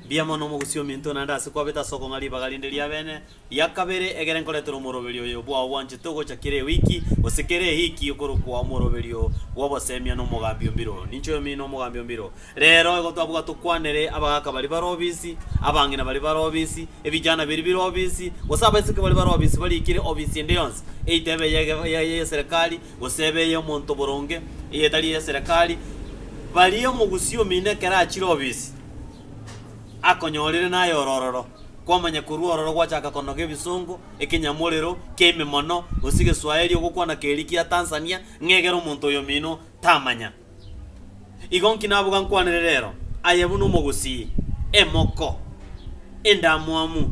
Mbuya mono omogusii ominto naende ase kwabete ase okong'a ribaga rinde ri'abene ria kabere egere nkoretera omoroberi oyo bwao bwanchete ogocha kera ewiki, gose kera ehiki okorokwa omoroberi oo bw'obosemia n'omogambi o mbiro. Ninche oyomino omogambi o mbiro. Rero igo twabugwa tokwanere, abagaaka baria bare obisi, abang'ina baria bare obisi, ebijana biria bire obisi, gose abaiseke baria bare obisi baria ikire obisi ende yonsi, eyita ebe eye ey'eserekari, gose ebe ey'omonto boronge, eyetari ey'eserekari, baria omogusii omino ekero achire obisi. akonyorire naye ororo, kwamanya korwa ororo gwachaka konoga ebisongo, ekenyamorero, kiaememono, gose egeswaeri ogokwana keria kia Tanzania, ng'a egere omonto oyomino tamanya. Igo nki nabuga nkwanere rero? Aye buna omogusii, emoko, endamwamu,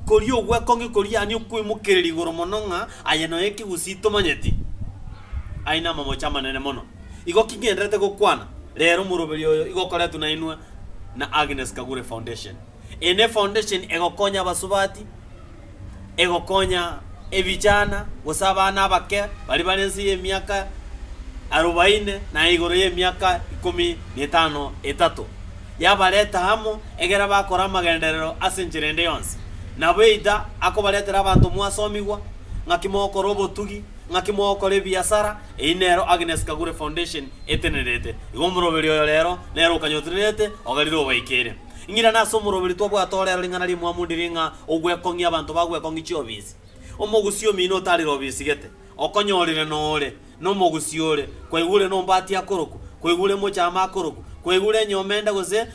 koria ogw'ekong'e koriania okwemokereri igoro mono ng'a aye noyo ekegusii tomanyeti. Aya namamocho amanene mono. Igo ki ngenderete gokwana? Rero omoroberio oyo igo okoretwe nainwe na Agnes Kagure Foundation. Eye nefoundation egokonya abasubati, egokonya ebijana gose abana abake baria bare ense y'emiaka arobaine na igoro y'emiaka ikomi netano etato. Yabareta amo egere bakore amagenderero ase enchera ende yonsi. Nabo either akobaretera abanto mwasomigwa ng'aki mogokora obotugi, Ng'aki mogokora ebiasara, eyio nero Agnes Kagure Foundation etenerete. Igo omoroberi oyo rero nere okanyotererete, ogarire obaikeire. Ng'ira nase omoroberi twabwate orero ring'ana rimwamu ndiri ng'a ogwekong'ia abanto bagwekong'ia chiobisi. Omogusi omino otarire obisigete, okonyorire nore nomogusi ore, kwaigure nombati akorokwa, kwaigure omochama akorokwa, kwaigure enyomba ende gose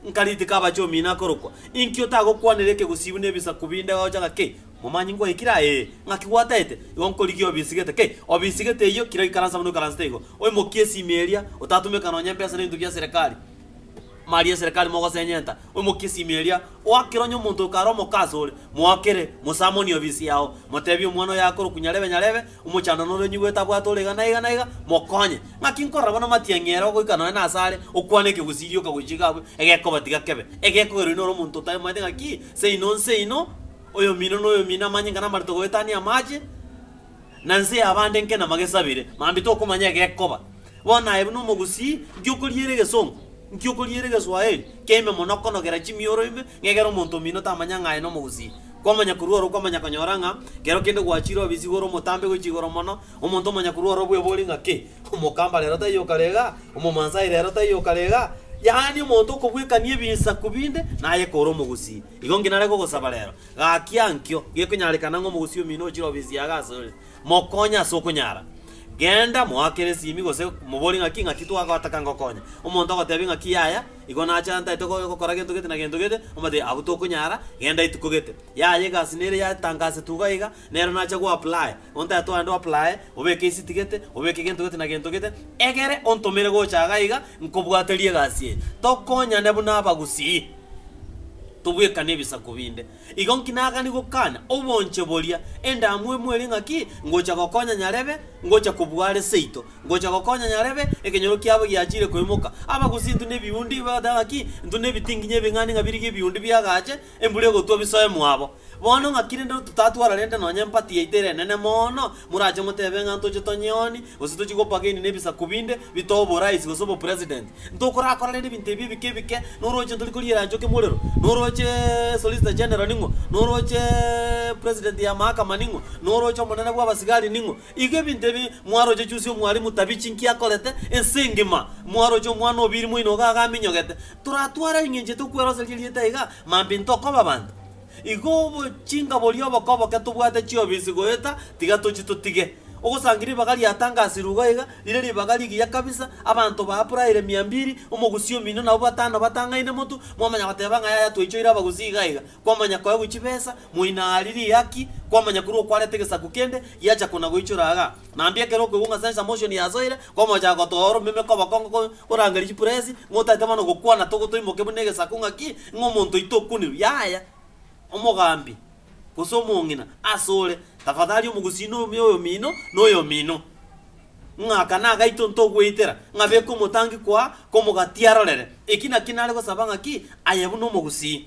nka ritika abache omino akorokwa. Inki otagokwanera ekegusii buna ebisaku binde gocha ng'a ki? Momanyi ngoikire aa ee, ng'aki gwataete? Igo nkorigia obisigete, kei, obisigete eyio, kira oikaransa buna oikaransete igo. Oimokie esimi eria, otatumeka nonya empesa n'ebinto bia serekari, mali ya serekari mogosenyenta, oimokie esimi eria, oakere onye omonto oyo kare omoke asore, moakere, mosamonie obisi yao, motebie omwana oyo akorokwa nyarebe nyarebe, omochandani oria onyigoete abwate ore iga na iga na iga, mokonye. Ng'aki nkorora buna matiang'i ere ogoika nonya nase are, okwane ekegusii rioka gochika abwe, egekobatiga kebe, egekogerwa inwe ore omonto otaimoete ng'aki seino nseino, Oyomino noyomino amanye ng'a namarito goetania amache, na nse y'abande nkene magesabire, mambia tokomanya egekoba. Bono aye buna omogusii, nki okoriera egesongo? Nki okoriera egeswaheli? Keime mono okonogera chimioro ime, ng'a egere omonto omino tamanya ng'a aye nomogusii. Kwamanya korwa oro kwamanya konyora ng'a kero kende gwachire obisi igoro omotambe goichi igoro mono, omonto omanya korwa oro bwebori ng'a ki, omokamba rero taiyo okarega, omomansai rero taiyo okarega, yaani omonto okobwekania ebinsaku binde naye kore omogusii. Igo inki nare kogosaba rero? Gaki ankio gekonyarekana ng'a omogusii omino ochire obe esiaga asore, mokonye ase okonyara. Genda, moake resimi, gose moborie ng'aki ng'aki twagoataka ngokonye. Omonto agotebi ng'aki yaya, igo nache antaete go- gokora gento gete na gento gete, omotebi, abwo tokonyara, genda etuko gete. Yaya egasi nere yatangasetwa iga iga, Nero nache goapply, ontete o ande oapply, obeke isiti gete, obeke gento gete na gento gete, egere ontomere gocha iga iga, nkobwaterie egasi eye. Tokonyane buna abagusii, tobwekane ebisaku binde. Igo nki nagani gokana obonche boria, endamwamu eria ng'aki, ngocha gokonya nyarebe, ngocha kobua are seito, ngocha gokonya nyarebe, ekenyoro kiabo giachire koimoka. Abagusii intwe nebiundi, igo bagoteba ng'aki, intwe nebitinginyi ebing'ani ng'a birigie ebiundi biagache, Embura egotwa bisoe mwabo. Bono ng'aki rende totatwara rende nonya empati yaito ere enene mono? Morache motebe ng'a ntoche tonyoni, gose tochie gopagaini nebisaku binde, bitoe oboraisi gose obopresident. Ntokorakora rende ebinto ebi ebike ebike, noroche ntori koriera nchoki morero? Noroche Solicitor General ning'o? Noroche President ya mahakama ning'o? Noroche omonene bw'abasigari ning'o? Igo ebinto ebi mwaroche chionsi Omwalimu tabichi nki akorete ense engima, mwaroche Omwana o biiri moino iga agaminyogete. Toratware aring'enchete okweroseria erieta iga mambia ntokoba abanto. Igo obochinga boria oboke-oboke tobwate chiobisi goeta, tiga tochie totige. Ogosangi ribaga riatangasirwe igo iga, rire ribaga rigiya kabisa, abanto baapuraire mia mbiri, omogusi omino nabo batano batang'aine motu, mwamanya goteba ng'a yaya twaichoire abagusi iga iga. Kwamanya kwaye gwe chibesa, moina aria rihaki, kwamanya kure okwarete gesaku kende, giacha kona goichora iga. Na mbuya ekero okwegung'a sense motion yasoire, kwamochaka gotoa oromeme kw'abakongo ko korangeria chipresi, ng'a otaete bono gokwana togo toimoke buna egesaku ng'aki, ng'a omonto oito okunirwe. Yaya! Omogambi, gose omong'ina, asore, tafadhali omogusii na omi oyomino, na oyomino. ng'a aka nagaito ntogweitera, ng'a beka omotangi kwa komogati arorere. Eki nakio nare gosaba ng'a ki aye buna omogusii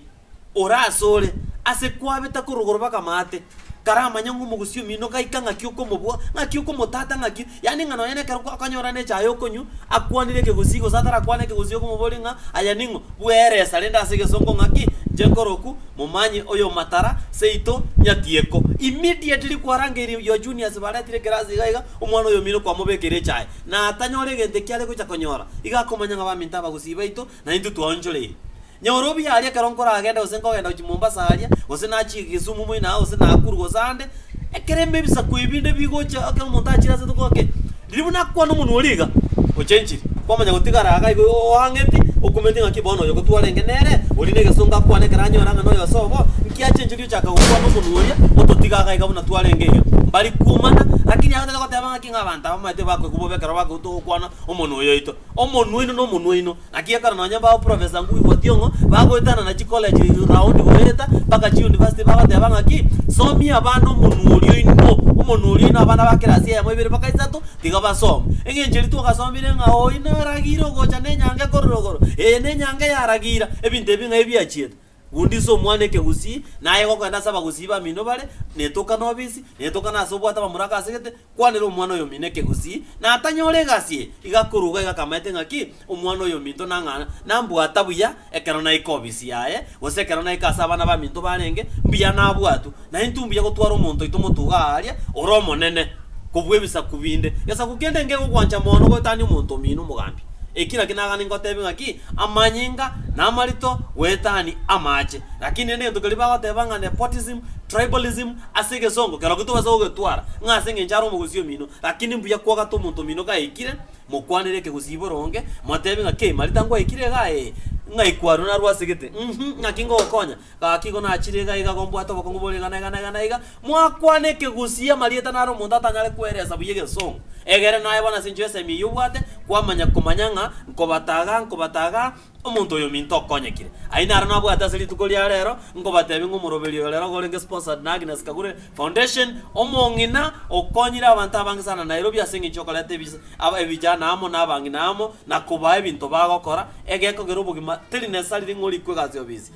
ore asore ase kwabeta korogoro baka amaate, karamanya ng'a omogusii omino gaika ng'aki okomobua, ng'aki okomotata ng'aki, yaani ng'a nonye nekero kwa okanyora ne echae okonywa, akwanire ekegusii gose atarakwane ekegusii okomoboria ng'a aya ning'o, bwera esa rende ase egesongo ng'a ki, inche nkoroku. Momanye oyomatara seito nyatieko. Immediately kwarangeirie your juniors baretire ekerasi iga iga omwana oyomino kwamobekeire echae na atanyore egento ekio are gocha konyora iga akomanya ng'a baminto abagusii baito na intwe twaonchoreirie. Nyora obuya aria ekero nkoragenda gose nkogenda gochia Mombasa aria gose nachie Kisumu moino aa gose Nakuru gose ande Ekerembe ebisaku ebi nde bigocha ekero omonto achire ase toko ake. Riria buna akwana omonwe oria iga, ochenchiri, kwamanya gotigara iga igo oang'eti, okumeti ng'aki bono oyo gotwarenge nere, oria negesongo akwane ekero anyora ng'a noyo ase obo, nki achenchiri ochaka gokwana omonwe oria, ototiga iga iga buna twarenge iga. Mbari kuumana, rakini aye otagete goteba ng'aki ng'a abanto abamaete bakoigwa bobe ekero bakoigwa togokwana omonwe oyoito. Omonwe oino nomonwe oino. Naki ekero nonya mbagoprofesa nkoigwa tiong'o, bagoetana na chikoleji roundi goeta, mpaka chiunivasiti bagoteba ng'aki, Somia abana omonwa oria oino, omonwa oria oino abana ba kerasi eyemo ibere mpaka isato, tiga basome. Eng'encho eria twagasomirie ng'a oino aragiire ogocha nenyanga ekorora igoro, eye nenyanga eyaragiira, ebinto ebi ng'a ebiachiete. Gundisa omwana ekegusii, naye gokogenda ase abagusii bamino bare, netoka nobisi, netoka nase obwate abamura akasegete, kwanera omwana oyomino ekegusii, natanyore egasi eye, iga akoruga iga akamaete ng'a ki, omwana oyominto nang'a nambwata buya ekero naika obisi yaye, gose ekero naika ase abana baminto barenge, mbuya nabwatwe. Naye ntumbuya gotwara omonto oito motuga aaria ore omonene kobua ebisaku binde. Gesaku kende ngegogwancha mono goetania omonto omino omogambi. Eki naki nagane ngotebi ng'aki, Amanyinga namarito goetani amache. Lakini rende egento keria bagoteba ng'a nepotism, tribalism, ase egesongo keroki tobasa gogetwara ng'a ase engencho are omogusi omino. Lakini mbuya kwogata omonto omino gaikire, mokwanere ekegusibore onge, motebi ng'aki, Marita ngwaikire igaa? Ee. Ng'ai kwaro narwasegete? Uhmm. Ng'aki ngogokonya? Gaki igo nachire iga iga gombwate obokong'u bore iga na iga na iga na iga, mwakwana ekegusii amarieta naro omonto atanyare koeresa buya egesongo. Egere naye bono ase enchera esemi eyio obwate kwamanya komanya ng'a nkobata agaa nkobata agaa, omonto oyo ominto okonyekire. Ayio naro nabwate ase rituko ria rero, nkobatebie ng'a omoroberi oyo rero gorenge sponsored na Agnes Kagure Foundation, omong'ina okonyire abanto abange sana Nairobi ase eng'encho yokoreta ebise aba ebijana amo na abang'ina amo na kobaa ebinto bagokora egekogera obogima teri necessarily ng'a orikwe egasi ofisi.